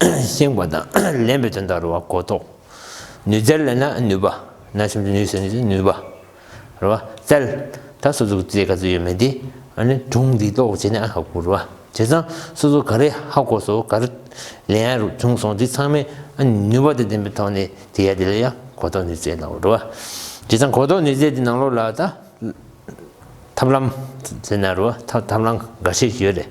བསྲིང་བ་དང་ལེན་པའི་དོན་དང་རུ་བ་གོ་རྟོགས། ནུས་རྩལ་ལེན་ན་ནུས་པ། ན་ཆུང་དུ་ནུས་ཟེར་ནི་ནུས་པ། རུ་བ་རྩལ། ད་སོ་ཙུག་རྩེ་ག་ཚོད་ཡོད་མེད་དེ། གྲུང་འདི་ལྟོ་བྱས་ནས་ཨ་ཧ་གོ་རུ་བ། བྱས་ཙང་སོ་ཙུག་ག་རེ་ཧ་གོ་སོ་ག་རེ་ལེན་ཡ་རུ་བྱུང་སོང་དེ་ཚང་མའི་ནུས་བ་དང་ལྡན་པའི་ཐོག་ནས་དེ་ཡ་དེ་ལ་ཡ་གོ་རྟོགས་ནུས་རྩལ་ལའོ་རུ་བ། བྱས་ཙང་གོ་རྟོགས་ནུས་རྩལ་དེ་ནང་ལོགས་ལ་ད། ཐབས་ལམ་ཟེར་ན་རུ་བ་ཐབས་ལམ་འགའ་ཤས་ཡོད་རེད།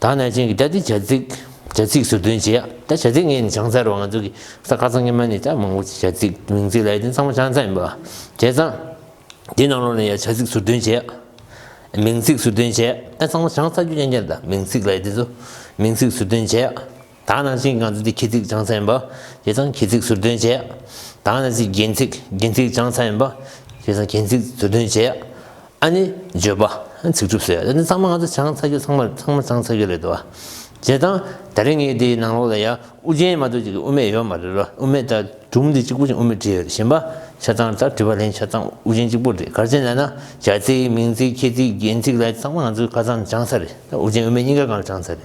ད་ནས་ཅན་གྱི་ད་ལྟའི་བྱ་ཚིག་བྱ་ཚིག་ཟུར་འདོན་བྱེད་ཡག་ད་བྱ་ཚིག་ངས་ནི་བྱང་ཚ་རུང་ང་ཚོ་གི་ས་ཁ་ཚང་ཉི་མ་ནས་ད་མང་པོ་བྱ་ཚིག་མིང་ཚིག་ལས་དེ་ཚང་མ་བྱང་ཚ་ཡིན་པ་བྱས་ཙང་དེ་ནང་ལོགས་ནས་ཡང་བྱ་ཚིག་ཟུར་འདོན་བྱེད་ཡག་མིང་ཚིག་ཟུར་འདོན་བྱེད་ད་ཚང་མ་བྱང་ཚ་རྒྱུ་ཡན་ཅན་ད་མིང་ཚིག་ལས་དེ་ཚོ་མིང་ཚིག་ཟུར་འདོན་བྱེད་ཡག། དང་ནང་ཚིག་ངང་ཚུལ་དེ་ཁྱི་ཚིག་བྱང་ཚ་ཡིན་པ། དེ་དང་ཁྱི་ཚིག་ཟུར་འདོན་བྱེད། དང་ནང་ཚིག་རྒན་ཚིག་རྒན་ཚིག་བྱང་ཚ་ཡིན་པ། དེ་དང་རྒན་ཚིག་ཟུར་འདོན་བྱེད། ཨ་ནི་བརྗོད་པ། ཚིག་གྲུབ་ཟེར། འདི་ཚང་མ་ང་ཚོ་བྱང་ཚ་རྒྱུ་ཚང་མ་ཚང་མ་བྱང་ཚ་རྒྱུ་རེད་དོ། བྱེད་དང། ད་རེ་ངའི་དེའི་ནང་ལོགས་ལ་ཡང་དབུ་རྒྱན་མ་གཏོགས་ཅིག་དབུ་མེད་ཡོད་མ་རེད་རོ། དབུ་མེད་ལྟར་སྒྲུང་འདི་གཅིག་པོ་ཅན་དབུ་མེད་བྲིས་ཡོད་བཞིན་པ། ཆ་ཚང་ལྟར་བྲིས་པ་ལན་ཆ་ཚང་དབུ་རྒྱན་གཅིག་པོ་རེད་གར་བྱེད་ལ་ན། བྱ་ཚིག་མིང་ཚིག་ཁྱི་ཚིག་རྒན་ཚིག་ལ་ཡི་ཚང་མ་ང་ཚོའི་ཁ་ཚང་བྱང་ཚ་རེད། དབུ་རྒྱན་དབུ་མེད་གཉིས་ཀ་གང་ལ་བྱང་ཚ་རེད།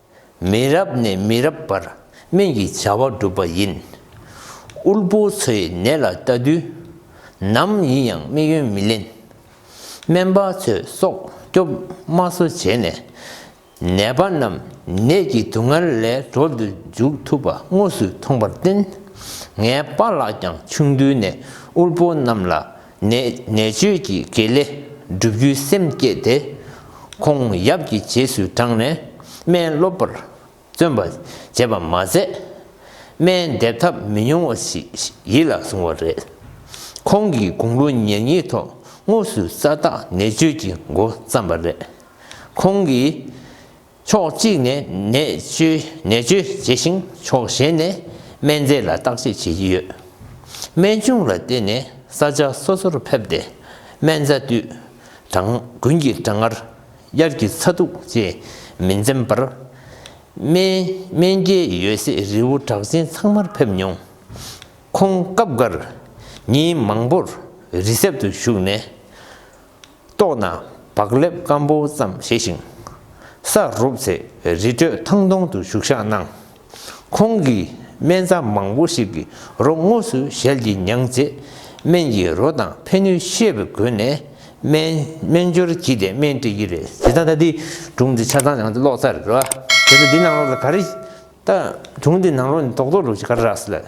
མི་རབས་ནས་མི་རབས་བར་སྨན་གྱི་བྱ་བ་བསྒྲུབས་པ་ཡིན། དབུལ་པོ་ཚོའི་ནད་ལ་ལྟ་དུས་ནམ་ཡིན་ཡང་དམིགས་ཡུལ་མི་ལེན། སྨན་པ་ཚོས་སྲོག་སྐྱོབ་དམའ་བཟོ་བྱས་ནས་ནད་པ་རྣམས་ནད་ཀྱི་སྡུག་བསྔལ་ལས་གྲོལ་དུ་འཇུག་ཐུབ་པ་དངོས་སུ་མཐོང་པར་བརྟེན། ངའི་པ་ལགས་ཀྱང་ཆུང་དུས་ནས་དབུལ་པོ་རྣམས་ལ་ནས་ནད་བཅོས་ཀྱི་དགེ་ལས་བསྒྲུབ་རྒྱུའི་སེམས་བསྐྱེད་དེ། ཁོང་ཡབ་ཀྱི་རྗེས་སུ་འབྲངས་ནས་སྨན་སློབ་པར་བརྩོན་པ་བྱས་པ་མ་ཟད། སྨན་འདེབས་ཐབས་མི་ཉུང་བ་ཞིག་ཡིད་ལ་བཟུང་བ་རེད། ཁོང་གིས་དགུང་ལོ་ཉེར་གཉིས་ཐོག་དངོས་སུ་ས་བདག་ནད་བཅོས་ཀྱི་འགོ་བརྩམས་པ་རེད། ཁོང་གིས་ཕྱོགས་གཅིག་ནས་ནད་བཅོས་བྱས་ཤིང་ཕྱོགས་གཞན་ནས་སྨན་རྫས་ལ་བརྟག་དཔྱད་བྱེད་ཀྱི་ཡོད། སྨན་ཆུང་ལ་བརྟེན་ནས་ས་ཆ་སོ་སོར་ཕེབས་ཏེ་སྨན་རྩྭ་དུས་གྲངས་དགུན་གྱི་གྲང་ངར་དབྱར་གྱི་ཚ་གདུག་བཅས་མི་འཛེམ་པར་སྨན་སྐྱེལ་ཡོད་སའི་རི་བོ་གྲགས་ཅན་ཚང་མར་ཕེབས་མྱོང། ཁོང་སྐབས་འགར་ཉིན་མང་པོར་རི་གསེབ་ཏུ་བཞུགས་ནས་ལྟོགས་ན་བག་ལེབ་སྐམ་པོ་ཙམ་བཞེས་ཤིང། ས་རུབ་ཚེ་རི་ཁྲོད་ཐང་སྟོང་དུ་བཞུགས་བཞག་གནང། ཁོང་གིས་སྨན་རྩྭ་མང་པོ་ཞིག་གི་རོ་དངོས་སུ་ཞལ་གྱིས་མྱངས་རྗེས་སྨན་གྱི་རོ་དང་ཕན་ནུས་ཤེས་པའི་སྒོ་ནས་སྨན་སྦྱོར་བགྱིས་ཏེ་སྨན་སྤྲད་ཀྱི་རེད། དེ་ལྟ་ན་འདི་གྲུང་འདི་ཆ་ཚང་ཡང་འདི་གློག་རྩ་རེད་རོ། དེ་ལྟ་འདི་ནང་གློག་རེད་ག་རེ། ད་གྲུང་འདི་ནང་གློག་ནི་རྡོག་རྡོག་རུ་ཞིག་ག་རེ་རགས་སྲིད་ལ།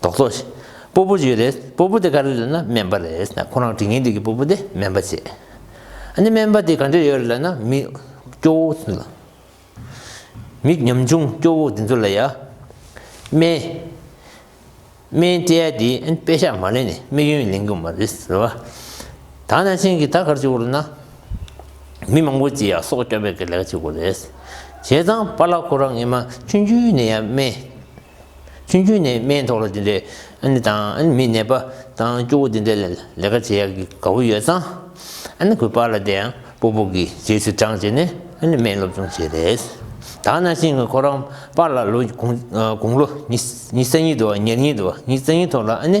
རྡོག་རྡོག། སྤོ་པོ་བྱོས་རེད། སྤོ་པོ་དེ་ག་རེ་རེད་ན་སྨན་པ་རེད། ཁོ་རང་དྲིན་ངན་འདུག་གི་སྤོ་པོ་དེ་སྨན་པ་བྱེད། ཨ་ནི་སྨན་པ་དེ་ག་འདྲ་ཡོད་རེད་ལབ་ན་མི་སྐྱོ་བོ་ཚོ་ལ། མི་ཉམ་ཆུང་སྐྱོ་བོ་དེ་ཚོ་ལ་ཡ། སྨན། སྨན་སྤྲད་ཡ་དེས་ཨ་ནི་དཔེ་ཞག་མ་ལེན་ནས་དམིགས་ཡུན་ལེན་གི་མ་རེད་ཟེར་བ། ད་ནང་ཆེན་གྱི་ད་གར་བྱེད་དགོས་རེད་ན། མི་མང་པོ་ཅིག་ཡ་སོག་སྐྱོ་བའི་གི་ལས་ཀ་བྱེད་དགོས་རེད། བྱས་ཙང་པ་ལགས་ཁོ་རང་ངེད་མ་ཆུང་རྒྱུན་ནས་ཡ་སྨན། ཚུན་ཆུང་ནས་སྨན་ཐོག་ལ་དེ་འདྲའི་ཨ་ནེ་དང་ཨ་ནེ་མི་ནད་པ་དང་སྐྱོ་བོ་དེ་འདྲ་ལས་ལས་ཀ་བྱེད་ཡག་གི་དགའ་བོ་ཡོད་ཙང། ཨ་ནེ་གོས་པར་ལ་དེ་ཡང་སྤོ་སྤོ་གི་རྗེས་སུ་འབྲངས་བྱས་ནས་ཨ་ནེ་སྨན་སློབ་སྦྱོང་བྱས་རེས་དྭགས་ན་ཤིང་ཁོ་རང་པར་ལ་ལོ་དགུང་ལོ་ཉི་གསར་ཉིན་དུ་བ་ཉེར་གཉིས་དུ་བ་ཉི་གསར་གཉིས་ཐོག་ལ་ཨ་ནེ་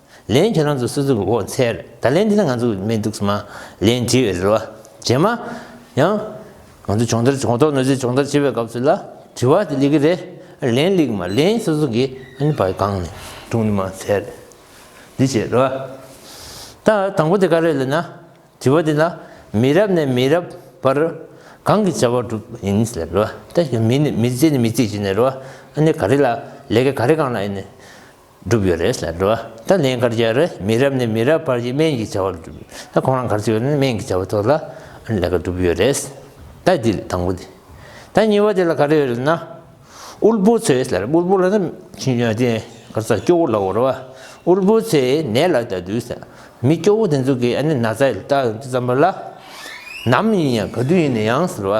ལན། ཁྱེད་རང་ཚོ་སུ་ཚོགས་འོག་འཚལ། ད་ལན་འདི་ན་ང་ཚོ་སྨན་འདུག་སྨ། ལན། དྲི་བའི་རེ་བ། བྱེད་མ། ཡང། ང་ཚོ་སྦྱོང་བརྡར་གོང་ཐོག་ནོར་རྫས་སྦྱོང་བརྡར་བྱེད་པའི་སྐབས་སུ་ལ། དྲི་བ་དེ་ལེགས་ཀྱི་རེད། ལན། ལེགས་མ་ལན། སུ་ཚོགས་ཀྱི། ཨ་ཕ་གང་ནས། དྲུང་ནས་མ་འཚལ། འདི་བྱེད་རེ་བ། ད། དང་པོ་དེ་ག་རེད་ལ་ན། དྲི་བ་དེ་ལ། མི་རབས་ནས་མི་རབས་བར། གང་གི་བྱ་བ་སྒྲུབ་ཡིན་ལ་རེ་བ། ད། མི་ནས་མི་གཅིག་ནས་མི་གཅིག་བྱས་ནས་རེ་བ། ཨ་ནི་ག་རེ་ལ། ལས་ཀ་ག་རེ་གང་ལ་ཨེ་ནི། བསྒྲུབས་ཡོད་རེད་ལ་འགྲོ་བ་ད་ལན་སྐར་རྒྱལ་རེད་མི་རབས་ནས་མི་རབས་བར་གྱི་སྨན་གྱི་བྱ་བ་ལ་བསྒྲུབས་ཡོད་ད་ཁོང་རང་གར་བཅུག་ཡོད་ན་སྨན་གྱི་བྱ་བ་ཐོག་ལ་ལས་ཀ་བསྒྲུབས་ཡོད་རེད་ད་འདི་ལས་དང་པོ་དེ་ད་གཉིས་པ་དེ་ལ་ག་རེ་ཡོད་ན་དབུལ་པོ་ཚོས་ལ་དབུལ་པོ་ལ་ན་ཁྱི་ཡོད་དེ་གར་ཚ་སྐྱོ་བོ་ལ་འོར་བ་དབུལ་པོ་ཚོས་ནད་ལ་ད་དུས་ལ་མི་སྐྱོ་བོ་དེ་ཚོ་གི་ཨ་ནི་ན་ཚ་ཡོད་ད་ཙམ་པ་ལ་ནམ་ཡིན་ཡང་ག་དུས་ཡིན་ན་ཡང་ཟེར་བ།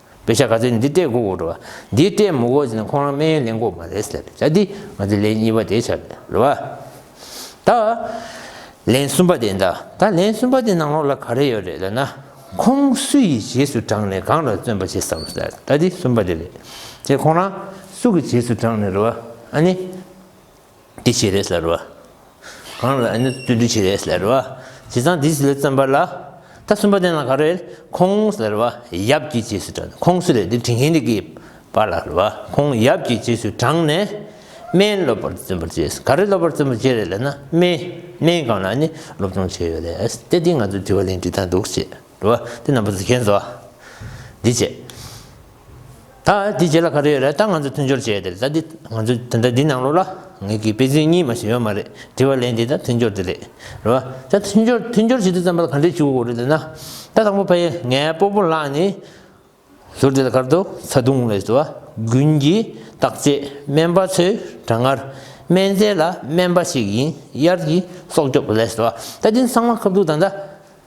བེ་ཤ་ག་ཚེ་ནི་འདི་ལྟས་གོ་རུ་བ། འདི་ལྟས་མོ་གོ་ཚེ་ནི་ཁོང་རང་སྨན་ཡོན་ལེན་གོ་མ་རེད་ཟེར་བྱ་སྟེ། ང་ཚོས་ལན་གཉིས་པ་དེ་བྱ་དགོས་རུ་བ། ད། ལན་གསུམ་པ་དེ་འདྲ་ད་ལན་གསུམ་པ་དེ་ནང་ལོགས་ལ་ག་རེ་ཡོད་རེད་ལབ་ན། ཁོང་སུ་ཡི་རྗེས་སུ་འབྲངས་ནས་གང་ལ་བརྩོན་པ་བྱེད་བསམ་ཟེར་ད་དེ་གསུམ་པ་དེ་རེད། དེ་ཁོང་རང་སུ་གི་རྗེས་སུ་འབྲངས་ནས་རུ་བ་ཨ་ནི། དེ་བྱས་རེས་ལ་རུ་བ། གང་ལ་ནི་བརྩོན་འགྲུས་བྱས་རེས་ལ་རུ་བ། དེ་དང་དེ་ལས་བརྩོན་པ་ལ། ད་གསུམ་པ་དེ་ན་ག་རེ། ཁོངས་ལ་རུ་བ། ཡབ་ཀྱི་རྗེས་སུ་འབྲངས་ནས་ཁོངས་སུ་རེ་ལྡེ་དྲིན་ཧེ་ནི་ཀའི་བ་ལ་རུ་བ། ཁོངས་ཡབ་ཀྱི་རྗེས་སུ་འབྲངས་ནས། སྨན་སློབ་པར་བརྩོན་པར་བྱས། ག་རེ་སློབ་པར་བརྩོན་པར་བྱས་རེ་ལ་ན་སྨན། སྨན་གང་ལ་ནི་སློབ་སྦྱོང་བྱས་ཡོད་རེས་ཏེ་དེ་ང་ཚོས་དྲི་བ་ལན་བྲིས་དང་འདུག་ཅེས་རུ་བ། དེ་རྣམ་པ་གཟིགས་མཁན་ཚོ། འདི་བྱས། ད་དེའི་རྗེས་ལ་ག་རེ་ཡོད་རེད་ད་ང་ཚོ་མཐུན་སྦྱོར་བྱས་ཏེ་ད་དེ་ང་ཚོ་དེ་འདྲ་འདི་ནང་ལོགས་ལ་ངེད་ཀྱི་དཔེ་ཚིག་གཉིས་མ་ཞིག་ཡོད་མ་རེད་དྲི་བ་ལན་འདི་ད་མཐུན་སྦྱོར་འདི་རེད་རེད་བ་ད་མཐུན་སྦྱོར་མཐུན་སྦྱོར་བྱེད་དུས་ཙམ་པ་ལ་ག་འདྲས་བྱུག་གོ་རེད་ཟེར་ན་ད་དང་པོ་ཕ་ཡས་ངའི་སྤོ་པོ་ལགས་ནི་ཟུར་དེ་ལ་གར་འདུག་ད་དུང་ལས་བཟོ་བ་དགུན་གྱི་བརྟག་དཔྱད་སྨན་པ་ཚོའི་གྲང་ངར་སྨན་རྫས་ལ་སྨན་པ་ཞིག་ཡིན་དབྱར་གྱི་སྲོག་སྐྱོབ་ལས་བཟོ་བ་ད་དེ་ཚང་མ་ཁབ་འདུག་ད་ད